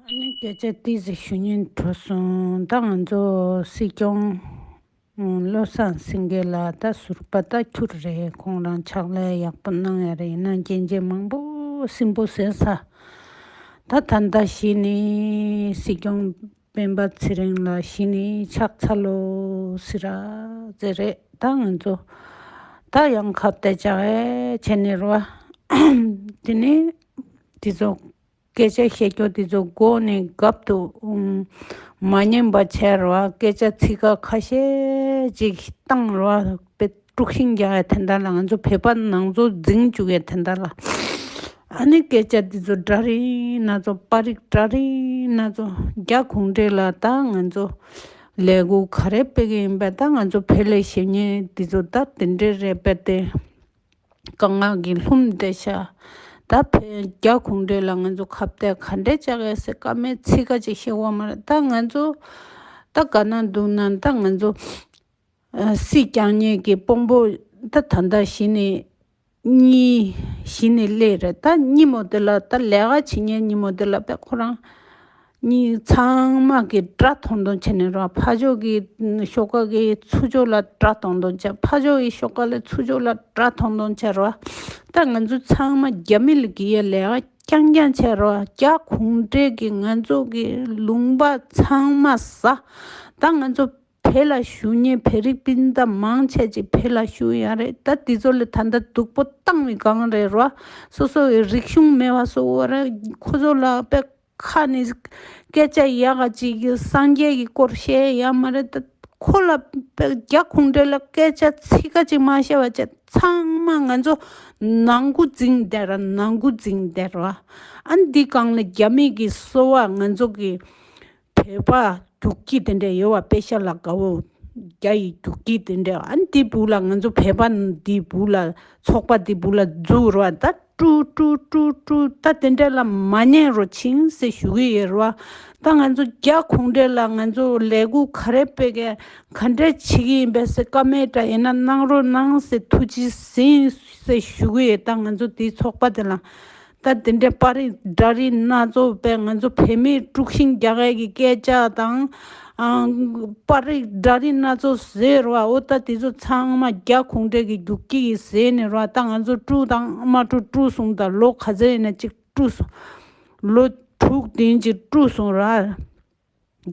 སྐད་ཆ་ཏི་ཟི་ཞུ་སྙན་དྲོ་གསུང་ད་ང་ཚོ་སྲིད་སྐྱོང་བློ་བཟང་སེང་གེ་ལགས་ད་ཟུར་པ་ད་ཁྱུར་རེད་ཁོང་རང་ཕྱག་ལས་ཡག་པོ་གནང་ཡ་རེད་ཡིན་ན་རྒྱན་ཆས་མང་པོ་སྲིན་པོ་ཟེར་ས་ད་ད་ཟླ་བཞི་ནི་སྲིད་སྐྱོང་སྤེན་པ་ཚེ་རིང་ལ་གཞི་ནས་ཕྱག་འཚལ་ལོ་ཟེར་ར་ཟེར་རེད་ད་ང་ཚོ་ད་ཡང་ཁ་བཏད་ཅག་ཨེ་བྱེད་ནི་རེད་དེ་ནས་དེ་ཚོ་སྐད་ཆ་བཤད་རྒྱུ་དེ་ཚོ་མགོ་ནས་གབ་ཏུ་མ་ཉན་པ་བྱས་ར་བ་སྐད་ཆ་ཚིག་ཁ་ཤས་ཅིག་བཏང་ར་བ་དཔེ། དཀྲུག་ཤིང་རྒྱག་ཡ་དེ་འདྲ་ལ་ང་ཚོ་བོད་པ་ནང་ཚོ་རྫིང་བཅུག་ཡ་དེ་འདྲ་ལ། ཨ་ནི་སྐད་ཆ་འདི་ཚོ་འདྲ་རེད་ན་ཚོ་པ་རིགས་འདྲ་རེད་ན་ཚོ་རྒྱ་གུང་བྲེ་ལ་ད་ང་ཚོ་ལས་སྒོ་ག་རེ་སྤེལ་གི་ཡིན་པ་ད་ང་ཚོ་བོད་ལས་བྱེད་ཉེ་འདི་ཚོ་ད་དེ་འདྲས་རེད་པ་དེ་དཀའ་ངག་གི་ལྷུམ་བརྡལ་ཤ་ད་བོད་རྒྱ་གུང་བྲེ་ལ་ང་ཚོ་ཁ་བརྡལ་ག་འདྲས་བཅག་ཡ་ཟེར་ཀ་མེད་ཚིག་ཀ་ཅིག་བཤད་དབང་མ་རེད་ད་ང་ཚོ་ད་ག་ན་འདུག་ན་ད་ང་ཚོ། སྲིད་རྐྱང་ཉལ་གྱི་སྤོང་པོ་འདི་ད་ལྟ་གཞི་ནས་གཉིས། གཞི་ནས་ཀླད་རེད་ད་ཉིན་མོ་འདི་ལ་ད་ལས་ཀ་བྱེད་ཉལ་ཉིན་མོ་འདི་ལ་བས་ཁོ་རང་གཉིས་ཚང་མ་གི་དགྲ་མཐོང་མཐོང་བྱེད་ནས་རོགས་ཕ་ཕྱོགས་ཀྱི་ཤོག་ཀ་གི་ཚུར་ཕྱོགས་ལ་དགྲ་མཐོང་མཐོང་བྱ་ཕ་ཕྱོགས་ཀྱི་ཤོག་ཀ་ལས་ཚུར་ཕྱོགས་ལ་དགྲ་མཐོང་མཐོང་བྱ་རོགས་ད་ང་ཚོ་ཚང་མ་རྒྱ་མི་ལ་གི་ཡ་ལས་ཀ་རྐྱང་རྐྱང་བྱ་རོགས་རྒྱ་གུང་བྲལ་གྱི་ང་ཚོ་གི་ལུང་པ་ཚང་མ་ཟ་ད་ང་ཚོ་བེད་ལ་ཞུ་ཉེས་བེད་རིགས་སྤུན་ཟླ་མང་ཆེ་གཅིག་བེད་ལ་ཞུ་ཡང་རེད་ད་དེ་ཚོ་ལས་ད་ལྟ་སྡུག་པོ་བཏང་བའི་སྒང་རེད་རོ། སོ་སོ་ཡི་རིག་གཞུང་མེད་བ་སོ་བོ་རེད་ཁོ་ཚོ་ལ་པད་ཁ་ནས་སྐད་ཆ་ཡག་ག་ཅིག་གི་སངས་རྒྱས་ཀྱི་སྐོར་བཤད་ཡ་མ་རེད་ད་ཁོ་ལ་པད་རྒྱ་ཁུང་འབྲས་ལ་སྐད་ཆ་ཚིག་ག་ཅིག་མ་བཤད་བ་བྱས་ཚང་མ་ང་ཚོ་ནང་དགུ་རྫིང་སྡེ་ར་ནང་དགུ་རྫིང་སྡེ་ར་ཨ་འདི་སྒང་ལ་རྒྱ་མིག་གི་སོ་བ་ང་ཚོ་གི། བོད་པ་རྒྱུག་ཁྱི་དེ་འདྲས་ཡོད་བ་དཔེ་ཤ་ལ་དགའ་བོ་རྒྱ་ཡི་རྒྱུག་ཁྱི་དེ་འདྲས་ཨ་འདི་བུ་ལ་ང་ཚོ་བོད་པ་འདི་བུ་ལ་ཚོགས་པ་འདི་བུ་ལ་རྫུག་ར་བ་ད་ཀྲུའུ་ཀྲུའུ་ཀྲུའུ་ཀྲུའུ་ད་དེ་འདྲས་ལ་མ་ཉན་རོ་ཆིང་ཟེར་ཞུ་གི་ཡོད་ར་བ་ད་ང་ཚོ་རྒྱ་གོང་འདྲས་ལ་ང་ཚོ་ལས་གུ་ག་རེ་སྤེལ་ག་ག་འདྲས་བྱེད་ཀྱི་ཡིན་པས་སེ་ཀ་མེད་འདྲ་ཡིན་ན་གནང་རོ་གནང་ཟེར་ཐུགས་རྗེ་ཟིན་ཟེར་ཞུ་གི་ཡོད་ད་ང་ཚོ་འདི་ཚོགས་པ་དེ་ལ། ད་དེ་འདྲའི་པར་རིས་སྒྲ་རིས་སྣ་ཚོགས་པའི་ང་ཚོ་བོད་མིའི་དཀྲུགས་ཤིང་རྒྱ་སྐད་ཀྱི་སྐད་ཆ་དང། པར་རིས་སྒྲ་རིས་སྣ་ཚོགས་ཟེར་རོ་ཨོ་ད་དེ་ཚོ་ཚང་མ་རྒྱ་གུང་བྲན་གྱི་རྒྱུགས་ཁྱི་ཡིས་ཟས་ནི་རོ་ཨ་ད་ང་ཚོ་དཀྲུགས་དང་ཨ་མ་དཀྲུགས་དཀྲུགས་སོང་ད་ལོ་ག་ཚོད་ཡིན་ན་ཅིག་དཀྲུགས་སོང། ལོ་དྲུག་བདུན་གྱི་དཀྲུགས་སོང་ར།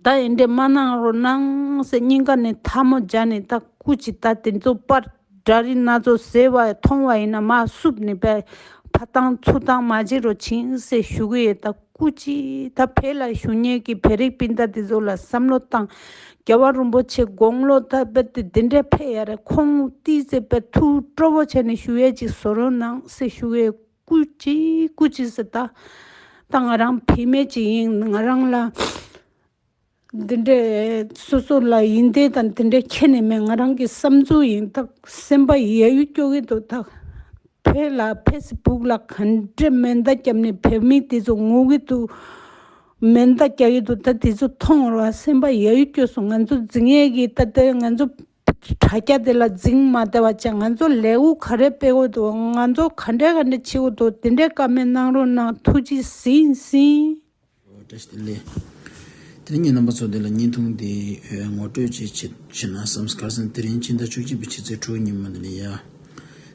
ད་ཡིན་འདྲེ་མ་གནང་རོགས་གནང་ཟེར་སྙིང་ག་ནས་ཐལ་མོ་སྦྱར་ནས་ད་སྐུ་ཅི་ད་དེ་ཚོ་པར་སྒྲ་རིགས་སྣ་ཚོགས་ཟེར་བ་མཐོང་བ་ཡིན་ན་མ་བསུབ་ནས་པའི་ཕ་བཏང་ཚུར་བཏང་མ་བྱེད་རོགས་བྱིན་ཟེར་ཞུ་གི་ཡོད་ད་སྐུ་ཅི་ད་བོད་ལ་ཞུ་ཉེས་ཀྱི་བོད་རིགས་སྤུན་ཟླ་དེ་ཚོ་ལ་བསམ་བློ་བཏང་རྒྱལ་བ་རིན་པོ་ཆེ་དགོངས་ལོ་ད་པེར་ཏི་དེ་འདྲས་ཕེ་ཡ་རེད་ཁོང་ཏི་ཟེར་པའི་ཐུགས་སྤྲོ་བོ་བྱས་ནས་ཞུ་ཡས་ཅིག་བཟོ་རོགས་གནང་ཟེར་ཞུ་གི་ཡོད། སྐུ་གཅིག་སྐུ་གཅིག་སུ་ལྟ་ད་ང་རང་བུད་མེད་ཅིག་ཡིན་ང་རང་ལ་འདི་འདྲའི་སོ་སོ་ལ་ཡིན་འདི་དང་དེ་འདྲ་ཁྱེད་ནས་མེད་ང་རང་གི་བསམ་ཚུལ་ཡིན་ད་སེམས་པ་ཡད་ཡུད་སྐྱོ་གི་འདུག་ད་བོད་ལ་ཕེ་སི་བུག་ལ་ག་འདྲའི་མེ་མདའ་བརྒྱབ་ནས་བོད་མི་དེ་ཚོ་ངུ་གི་འདུག་མེ་མདའ་རྒྱག་གི་འདུག་ད་དེ་ཚོ་མཐོང་རོགས་ཨ་སེམས་པ་ཡད་ཡུད་སྐྱོ་སོང་ང་ཚོ་འཛིང་ཡད་གི་ད་ལྟའི་ང་ཚོ། དྲ་རྒྱ་དེ་ལ་རྫིང་མ་དེ་བ་ཅན་ང་ཚོ་ལེའུ་ག་རེ་སྤེལ་འོ་དོ་ང་ཚོ་ག་འདྲས་ག་འདྲས་བྱེད་འོ་དོ་དེ་འདྲས་ཀ་མེད་གནང་རོགས་གནང་ཐུགས་རྗེ་ཟིན་ཟིན། བཀྲ་ཤིས་བདེ་ལེགས། དེ་རིང་ངེད་རྣམ་པ་ཚོ་འདི་ལ་བརྙན་ཐུང་འདི་ངོ་སྤྲོད་ཅིག་བྱེད་བྱེད་ན་བསམ་སྐར་སན་དེ་རིང་ཕྱི་ཟླ་བཅུ་གཅིག་པའི་ཕྱི་ཚེས་དྲུག་ཉིན་མོ་འདི་ནས་ཡ་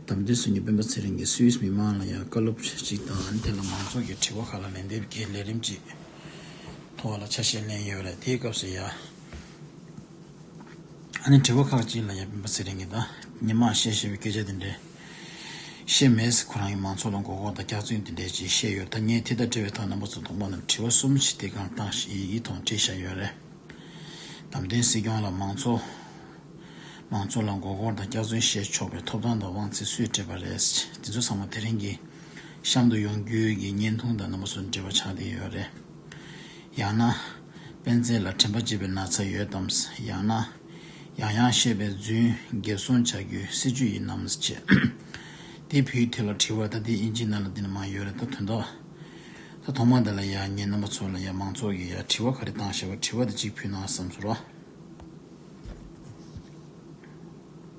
དམ་དུས་སུ་ངེད་སྤེན་པ་ཚེ་རིང་གིས་སུའིས་མི་མང་ལ་ཡང་བཀའ་སློབ་བྱེད་ཅིག་དང་དེ་ལ་མང་ཚོགས་ཀྱི་དྲི་བ་ཁག་ལ་ལན་འདེབས་ཀྱི་ལས་རིམ་ཅིག་ཐོག་ལ་ཆ་ཤས་ལེན་ཡོད་རེད་དེའི་སྐབས་སུ་ཡ། ཨ་ནེ་དྲི་བ་ཁག་ཅིག་ལ་ཡ་བིན་པ་ཟེར་རིང་གི་ད་ནི་མ་བཤད་ཞེས་པའི་སྐད་ཆ་དེ་འདྲས་ཤེས་མེད། ཁོ་རང་གིས་མང་ཚོགས་ལ་མགོ་སྐོར་དང་སྐྱག་རྫུན་དེ་འདྲས་ཅིག་བཤད་ཡོད་ད་ངས་དེ་ལྟར་དྲི་བའི་ཐག་རྣམ་པ་ཚོ་དུང་པ་རྣམས་དྲི་བ་གསུམ་བྱས་ཏེ་གང་བཏང་ཞིག་ཡིག་ཡིག་ཐོག་འབྲི་བཞག་ཡོད་རེད། དམ་བདེན་སྲིད་སྐྱོང་ལ་མང་ཚོགས་མང་ཚོགས་ལ་མགོ་སྐོར་དང་སྐྱག་རྫུན་བཤད་ཆོག་པའི་ཐོབ་ཐང་དང་དབང་ཚད་སུས་སྤྲད་པ་རེད། དེ་ཚོ་ཚང་མ་དེ་རིང་གི་གཤམ་དུ་ཡོང་རྒྱུའི་གི་བརྙན་ཐུང་དང་རྣམ་པ་ཚོ་འབྲི་བ་ཆགས་བསྡད་ཡོད་རེད། ཡང་ན། སྤེན་ཚེ་ལ་དྲན་པ་བརྗེད་པའི་ན་ཚ་ཡོད་དམ། ཡང་ན། ཡང་ཡང་བཤད་པའི་རྫུན་འགེབས་སྲུང་བྱ་རྒྱུའི་སྲིད་ཇུས་ཡིན་ནམ། ཅེས་དེ་བུའི་དེ་ལ་དྲིས་བར་ད་དེའི་དབྱིན་ཇིའི་ནང་ལ་འདི་ནི་མང་ཡོད་རེད་ད་དོན་དག་ད་ཐོག་མ་དེ་ལ་ཡག་ཉེས་རྣམ་པ་ཚོ་ལ་ཡག་མང་ཚོགས་ཀྱི་ཡག་དྲི་བ་ག་རེ་བཏང་ཞེས་པ་དྲི་བ་དེ་གཅིག་ཕུལ་ན་བསམ་ཚུལ་རོ།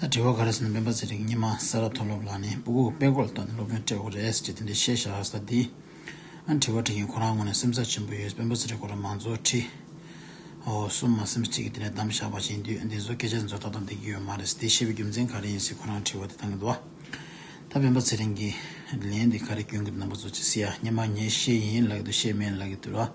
ད་དྲི་བ་ག་རེ་ཟིན་ན་སྨན་པ་ཚེ་རིང་སྙེ་མ་ས་ར་མཐོ་སློབ་ལགས་ནི་སྤུ་གུག་པད་ཀོར་ལྟ་ནས་སློབ་དཔོན་སྤྲད་འོ་རེད་ཅེས་དེ་འདྲའི་ཤེས་བྱ་ཧ་ས་འདི་ཨ་དྲི་བ་དྲི་མཁན་ཁོ་རང་ངོ་ནས་སེམས་ཚགས་ཆེན་པོ་ཡོད་སྤེན་པ་ཚེ་རིང་སྐོར་ལ་མང་གཙོ་ཁྲི་འོ་གསུམ་མ་སེམས་གཅིག་གིས་དེ་ནས་གདམ་བཞག་པ་བྱིན་དུས་འདི་ཚོ་སྐད་ཆ་འདི་ཚོ་ད་ལྟ་འདེགས་ཀྱི་ཡོད་མ་རེད་དེ་བཤད་པའི་རྒྱུ་མཚན་ག་རེ་ཡིན་སྲིད་ཁོ་རང་དྲི་བ་དེ་ད་ངེས་དུ་ད་སྤེན་པ་ཚེ་རིང་གིས་ལན་འདི་ག་རེ་སྐྱོན་གི་ནོམ་པ་ཚོ་ཅི་སྲིད་ཨ་སྙེ་མ་ངས་ཤེས་ཡིན་ལག་གི་འདུག་ཤེས་མེད་ལག་གི་འདུག་ར།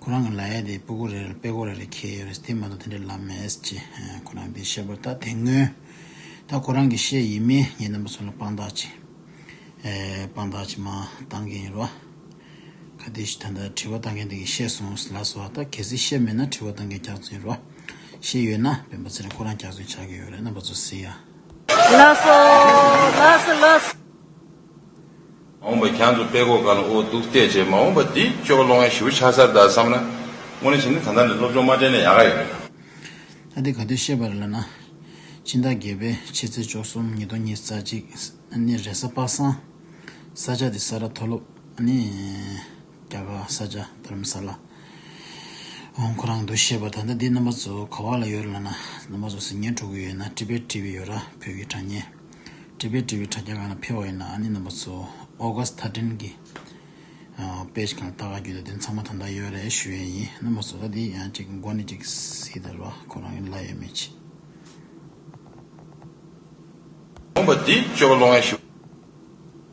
ཁོ་རང་གི་ལ་ཡ་དེ་སྤུ་གོ་རེ་རེ་པེ་གོ་རེ་རེ་ཁེལ་ཡོད་རེད་དེ་མ་གཏོགས་དེ་འདྲའི་ལབ་མེད་ཅེས་ཁོ་རང་གིས་བཤད་པར་ད་དེ་སྔོན་ད་ཁོ་རང་གིས་བཤད་ཡིན་མིན་ངེད་རྣམ་པ་ཚོ་ལ་དཔང་རྟགས་ཅིག་དཔང་རྟགས་ཅིག་མ་བཏང་གིན་ཡོད་རེད། ཁ་ཏིས་ད་ལྟ་དྲི་བ་གཏང་མཁན་དེ་གིས་བཤད་སོང་ཟེར་ལགས་སོ་ད་གལ་སྲིད་བཤད་མེད་ན་དྲི་བ་གཏང་མཁན་སྐྱག་རྫུན་ཡོད་རེད། བཤད་ཡོད་ན་བོད་པ་ཚེ་རིང་ཁོ་རང་སྐྱག་རྫུན་ཆགས་ཀྱི་ཡོད་རེད་རྣམ་པ་ཚོ་བསྲེ་ཡ། ལགས་སོ། ལགས་སོ་ལགས་སོ། འོངས་པ་གྱང་དུ་པད་གོག་དཀར་ལ་འོ་བདུག་བལྟས་རྗེས་མ་འོངས་པ་འདི་ཅོག་གློག་བརྙན་ཞིབ་ཆགས་སར་གདའ་བསམ་ན། དངོས་གནས་བྱིན་ནི་ད་ལྟ་ནས་སློབ་སྦྱོང་མ་དྲན་ན་ཡག་ག་ཡོད་རེད། ཨ་འདི་ག་དུས་བཤད་པ་རེད་ལབ་ན། སྤྱིན་བདག་དགེ་བས་ཕྱི་ཚེས་བཅོ་གསུམ་ཉིན་སྟོང་གཉིས་རྩ་གཅིག་ཨ་ནི་རེས་གཟའ་པ་སངས། ས་ཆ་དེ་ས་ར་མཐོ་སློབ་ཨ་ནི། རྒྱ་གར་ས་ཆ་དྷར་མ་ས་ལ། འོང་ཁོ་རང་དུ་བཤད་པ་ད་ལྟ་འདི་རྣམ་པ་ཚོ་ག་བ་ལ་ཡོད་རེད་ལབ་ན་རྣམ་པ་ཚོ་ཟིན་ཉིན་དྲུག་གི་ཡོད་ན་ཀྲི་པའི་ཀྲི་བི་ཡོད་ར་བོད་ཀྱི་དྲ་བརྙན། འབྲེལ་པའི་འབྲེལ་བའི་དྲ་རྒྱ་གང་ལ་ཕེབས་པ་ཡིན་ན་ཨ་ནེ་རྣམ་པ་ཚོ་ཨོ་ག་སི་ཐ་ཀྲིན་གྱི Page གང་ལ་ལྟ་ག་རྒྱུ་དེ་དོན་ཚང་མ་ད་ལྟ་ཡོད་རེད་ཞུ་ཡས་ཡིན་རྣམ་པ་ཚོ་ཨ་དེ་ཡང་ཅིག་མགོ་ནས་ཅིག་སི་དར་བ་ཁོ་རང་གི་ལ་ཡོད་མེད་ཅི། ལུང་པ་འདི་བཅོས་པ་བློ་ངན་ཞུ།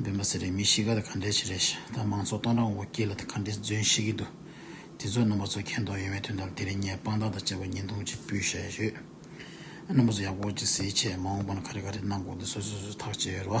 སྦེན་པ་ཟེར་རེད་མི་གཤིས་ཀ་དེ་ག་འདྲས་བྱེད་རེད་ཤ་ད་མང་ཚོགས་སྟོང་ཕྲག་འོ་སྐྱིད་ལ་དེ་ག་འདྲས་རྫུན་བཤད་ཀྱི་འདུག་དེ་ཚོ་རྣམ་པ་ཚོ་མཁྱེན་རྟོགས་ཡོད་མེད་དོན་དམ་དེ་རིང་ངས་དཔང་རྟགས་དང་བཅས་པ་ཉིན་ཐུང་གཅིག་སྤུས་བཤད་ཡོད། རྣམ་པ་ཚོ་ཡག་པོ་གཅིག་གཟིགས་ཆེད་མ་འོངས་པ་ན་ག་རེ་ག་རེ་གནང་དགོས་དེ་སོ་སོས་སོས་ཐག་བཅད་ཡོད་རེད་བ།